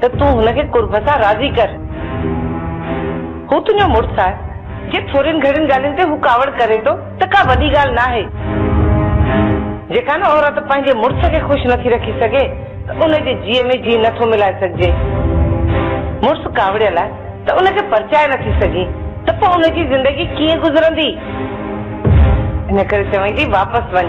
ته تون هن کي قرب سان راضي ڪر. هو تنهنجو مڙس آهي. جي ٿورين گهڻين ڳالهين تي هو ڪاوڙ ڪري ٿو ته ڪا وڏي ڳالهه ناهي. جيڪا نه عورت پنهنجي مڙس کي خوش نٿي رکي سگهي ته ان جي جيء ۾ جيء نٿو ملائي سگهجي. مڙس ڪاوڙيل آهي ته ان کي پرچائي نٿي سگهين ته پوء ان جي زندگي ڪيئن گذرندي. ان ڪري چوين ٿي واپس وڃ.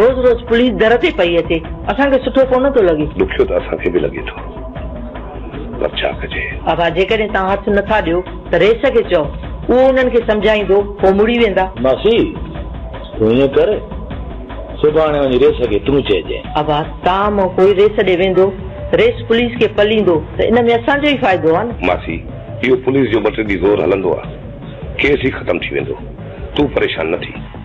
روز روز پوليس در تي پئي اچي اسان کي سٺو ڪونه ٿو لڳي. ڏکيو ته اسان کي به لڳي ٿو پر ڇا ڪجي. آغا جيڪڏهن توهان هٿ نه ٿا ڏيو ته رئيس کي چئو اهو انهن کي سمجهائيندو هو مڙي ويندا. ماسي تون ائين ڪر سڀاڻي وڃي رئيس کي تون چئجين. آغا توهان مان ڪوئي رئيس ڏي ويندو رئيس پوليس کي پليندو ته ان ۾ اسان جو ئي فائدو آهي نه. ماسي اهو پوليس جو ٻه ٽي ڏينهن زور هلندو آهي ڪيس ئي ختم ٿي ويندو تون پريشان نه ٿي.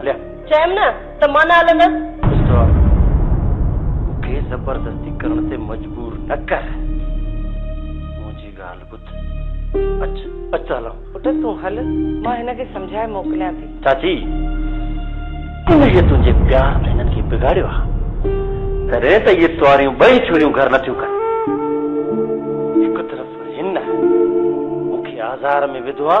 هليا. چيم نه ته مان نه هلندس. مستوار، مون کي زبردستي ڪرڻ تي مجبور نه ڪر. منهنجي ڳالهه ٻڌ. اچ، اچ ته هلان. پٽ تون هل، مان هن کي سمجهائي موڪليان ٿي. چاچي، انهيء تنهنجي پيار ۾ هنن کي بگاڙيو آ. تڏهن ته اهي ٽواريون ٻئي ڇوريون گهر نه ٿيون ڪن. هڪ طرف هن مون کي آزار ۾ وڌو آ.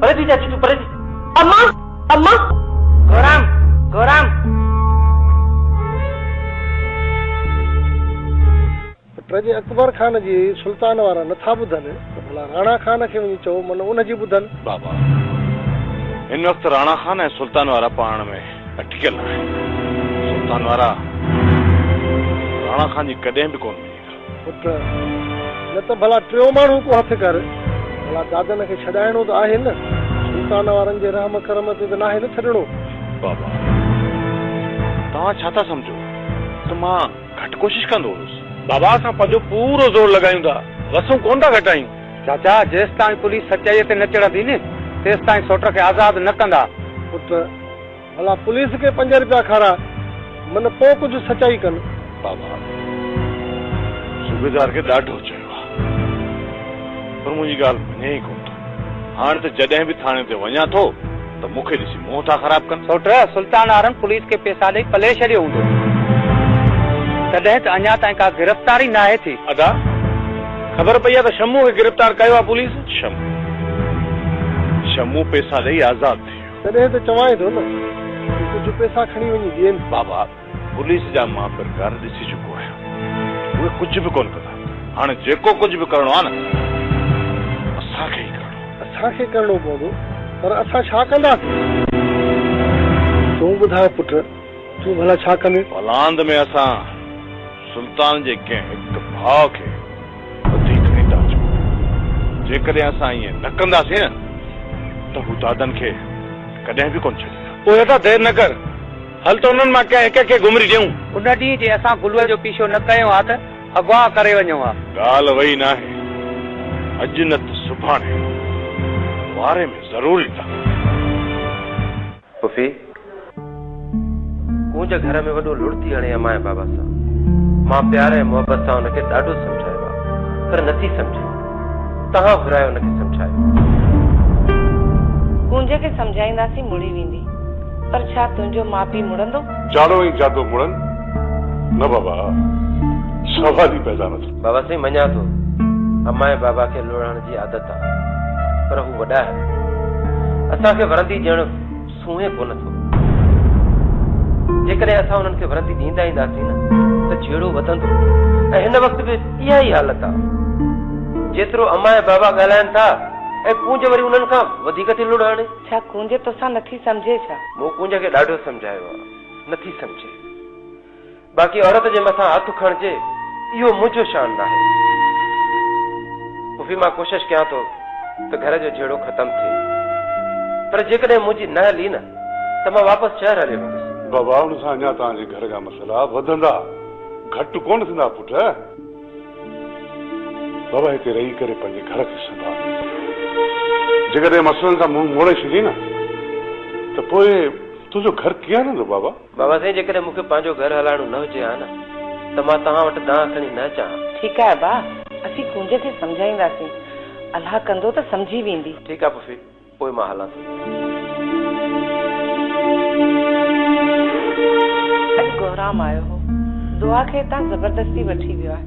پر جي چاچي تون پر جي امان امان گورام گورام. پر جي اڪبر خان جي سلطان وارا نٿا ٻڌن ته ڀلا راڻا خان کي وڃي چئو من ان جي ٻڌن. بابا هن وقت راڻا خان ۽ سلطان وارا پاڻ ۾ اٽڪيل آهن سلطان وارا راڻا خان جي ڪڏهن به ڪونه مڃيندا. پٽ، نه ته ڀلا ٽيون ماڻهو ڪو هٿ ڪر. ڀلا دادن کي ڇڏائڻو ته آهي نه. سلطان وارن جي رحم ڪرم تي ته ناهي نه ڇڏڻو. بابا، توهان ڇا ٿا سمجهو ته مان گهٽ ڪوشش ڪندو هوس. بابا، اسان پنهنجو پورو زور لڳايون ٿا، وسون ڪونه ٿا گهٽايون. چاچا، جيستائين پوليس سچائيء تي نه چڙهندي نه، تيستائين سوٽر کي آزاد نه ڪندا. پٽ، ڀلا پوليس کي پنج رپيا کارا من پو ڪجھ سچائي ڪن. بابا صوبيدار کي ڏاڍو چيو آ پر منهنجي ڳالهه مڃي ئي ڪونه ٿو هاڻ ته جڏهن به ٿاڻي تي وڃان ٿو ته مون کي ڏسي منهن ٿا خراب ڪن. سوٽ سلطان آرن پوليس کي پيسا ڏئي پلي ڇڏيو هوندو تڏهن ته اڃا تائين ڪا گرفتاري ناهي ٿي. ادا خبر پئي آ ته شمو کي گرفتار ڪيو آ پوليس. شمو شمو پيسا ڏئي آزاد ٿي ويو. تڏهن ته چوانء ٿو نه ته ڪجهه پئسا کڻي وڃي ڏين. بابا، پوليس جا مان پرڪار ڏسي چڪو آهيان. اهي ڪجهه به ڪونه ڪندا. هاڻ جيڪو ڪجهه به ڪرڻو آهي نه اسان کي ئي ڪرڻو. اسان کي ڪرڻو پوندو، پر اسان ڇا ڪنداسين؟ تون ٻڌاء پٽ، تون ڀلا ڇا ڪندين؟ بلاند ۾ اسان سلطان جي ڪنهن هڪ ڀاء کي وڌيڪ ننڊا چئو پيا. جيڪڏهن اسان ائين نه ڪنداسين نه ته هو دادن کي ڪڏهن به ڪونه ڇڏيندا. پوء اسان دير نه ڪر، هل ته انهن مان ڪنهن هڪ کي گهمري ڏيون. ان ڏينهن جي اسان گلوء جو پيڇو نه ڪيو ها ته اغوا ڪري وڃون ها. ڳالهه وئي ناهي، اڄ نه ته سڀاڻي واري ۾ ضرور ايندا. پڦي ڪونج گهر ۾ وڏو لڙ ٿي هڻي امايان بابا سان. مان پيار ۽ محبت سان ان کي ڏاڍو سمجهايو آ پر نٿي سمجهي. توهان گهرايو ان کي سمجهايو. ڪونج کي سمجهائينداسين مڙي ويندي. پر ڇا تنهنجو ماء پيء مڙندو؟ جاڙو ۽ جادو مڙن؟ نه بابا سوال ئي پيدا نه ٿو. بابا سائين مڃان ٿو. امايان بابا کي لڙهڻ جي عادت آ. پر هو وڏائر اسان کي ورندي ڏيڻ سونهين ڪونه ٿو. جيڪڏهن اسان انهن کي ورندي ڏيندا اينداسين نه ته جهيڙو وڌندو ۽ هن وقت به اها ئي حالت آ. جيترو امان ۽ بابا ڳالهائن ٿا ۽ ڪونج وري انهن کان وڌيڪ ٿي لڙ هڻي. ڇا ڪونج توسان نٿي سمجهي ڇا؟ مون ڪونج کي ڏاڍو سمجهايو آ، نٿي سمجهي. باقي عورت جي مٿان هٿ کڻجي اهو منهنجو شان ناهي. پڦي مان ڪوشش ڪيان ٿو ته گهر جو جهيڙو ختم ٿئي پر جيڪڏهن منهنجي نه هلي نه ته مان واپس شهر هليو ويندس. بابا ان سان اڃا توهان جي گهر جا مسئلا وڌندا گهٽ ڪونه ٿيندا پٽ. بابا هتي رهي ڪري پنهنجي گهر کي سنڀال. جيڪڏهن مسئلن کان منهن موڙي ڇڏين نه ته پوء تنهنجو گهر ڪيئن هلندو بابا. بابا سائين جيڪڏهن مون کي پنهنجو گهر هلائڻو نه هجي ها نه ته مان توهان وٽ دانهن کڻي نه اچان ها. ٺيڪ آهي ابا، اسين ڪونج کي سمجهائينداسين. الله ڪندو ته سمجهي ويندي. ٺيڪ آهي پڦي، پوء مان هلان ٿو. اڄ گهرام آيو هو. دعا کي هتان زبردستي وٺي ويو آهي.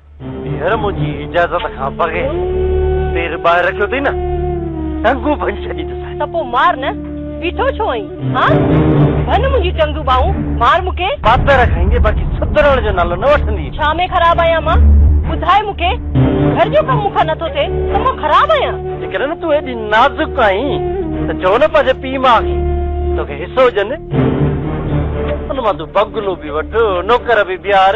هينئر منهنجي اجازت کان بغير پير ٻاهر رکيو اٿئي نه، ٽنگون ڀڃي ڇڏيندوسانء. ته پوء مار نه، بيٺو ڇو آهين؟ هان؟ ڀڃ منهنجيون ٽنگون ٻانهون، مار مون کي. پاتر کائيندينء، باقي سڌرڻ جو نالو نه وٺندينء. ڇا ۾ خراب آهيان مان؟ ٻڌاء مون کي، گهر جو ڪم مون کان نٿو ٿئي ته مان خراب آهيان؟ جيڪڏهن نه تون ايڏي نازڪ آهين ته چئو نه پنهنجي پيء ماء کي توکي حصو ڏين. ان مان تون بگلو به وٺ، نوڪر به بيهار.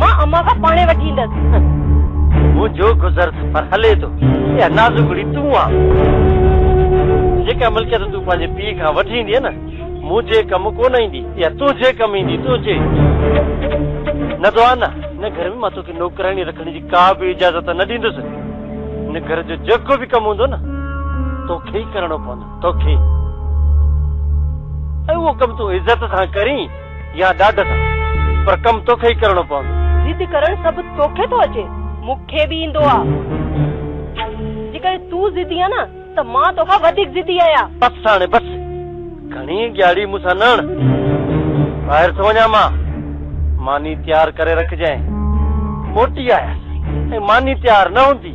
مان امان کان پاڻهي وٺي ايندس. منهنجو گذر سفر هلي ٿو. اها نازڪڙي تون آ. جيڪا ملڪيت تون پنهنجي پيء کان وٺي ايندينء نه، منهنجي ڪم ڪونه ايندي. اها تنهنجي ڪم ايندي، تنهنجي. ندوانا، هن گهر ۾ مان توکي نوڪراڻي رکڻ جي ڪا به اجازت نه ڏيندس. هن گهر جو جيڪو به ڪم هوندو نه، توکي ئي ڪرڻو پوندو. توکي. ۽ اهو ڪم تون عزت سان ڪرين. يا ڏاڍ سان، پر ڪم توکي ئي ڪرڻو پوندو. ضد ڪرڻ سڀ توکي ٿو اچي، مون کي به ايندو آ. جيڪڏهن تون ضدي آ نه ته مان توکان وڌيڪ ضدي آهيان. بس ساڻي بس، گهڻي ڳياڙي مون سان نه هڻ. ٻاهر ٿو وڃان مان، ماني تيار ڪري رکجانء. موٽي آيس ۽ ماني تيار نه هوندي.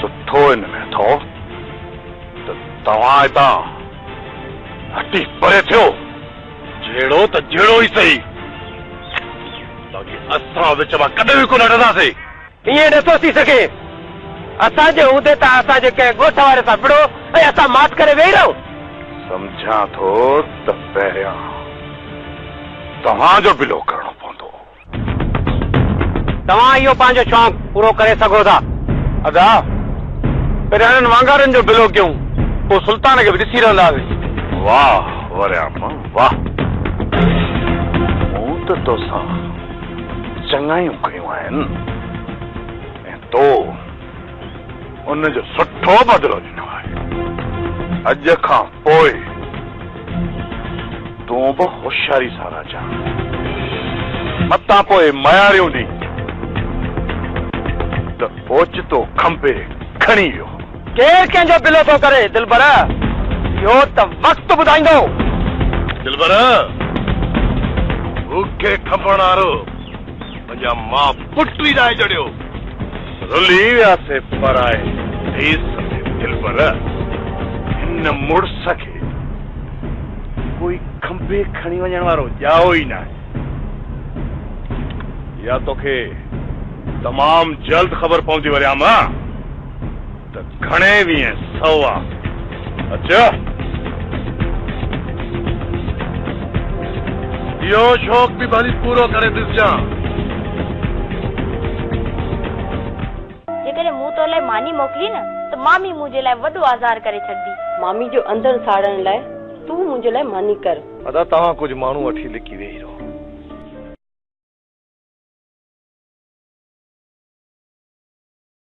سٺو ان ۾ اٿو ته توهان هتان هٽي پري ٿيو، جهڙو ته جهڙو ئي سهي، باقي اسان وچ مان ڪڏهن به ڪونه هٽنداسين. ائين نٿو ٿي سگهي. اسان جي هوندي ته اسان جي ڪنهن ڳوٺ واري سان وڙهو ۽ اسان ماٺ ڪري ويهي رهون. سمجهان ٿو ته پهريان توهان جو بلو ڪرڻو پوندو. توهان اهو پنهنجو شونق پورو ڪري سگهو ٿا. ادا، پهريان انهن وانگارن جو بلو ڪيون، پوء سلطان کي به ڏسي رهنداسين. واهه وريامه واهه. مون ته توسان چڱايون ڪيون آهن ۽ تو ان جو سٺو بدلو ڏنو آهي. اڄ کان پوء تون به هوشياري سان رهجان، متان پوء مياريون ڏينهن ته اوچتو کنڀي کڻي ويو هو. ڪير ڪنهن جو بلو ٿو ڪري دلبر، اهو ته وقت ٻڌائيندو. دلبر! بوکي کپڻ وارو پنهنجا ماء پٽ ئي ناهي جڙيو، رلي وياسي پرائي ديس ۾، دلبر! هن مڙس کي ڪوئي کنڀي کڻي وڃڻ وارو ڄائو ئي ناهي. اها توکي تمام جلد خبر پوندي وريام. ته گهڻي ويهين سو آ اچيو. اهو شوق به ڀلي پورو ڪري ڏسجان. جيڪڏهن مون تو لاء ماني موڪلي نه ته مامي منهنجي لاء وڏو آزار ڪري ڇڏندي. مامي جو اندر ساڙڻ لاء تون منهنجي لاء ماني ڪر. ادا توهان ڪجهه ماڻهو وٺي لڪي ويهي رهو.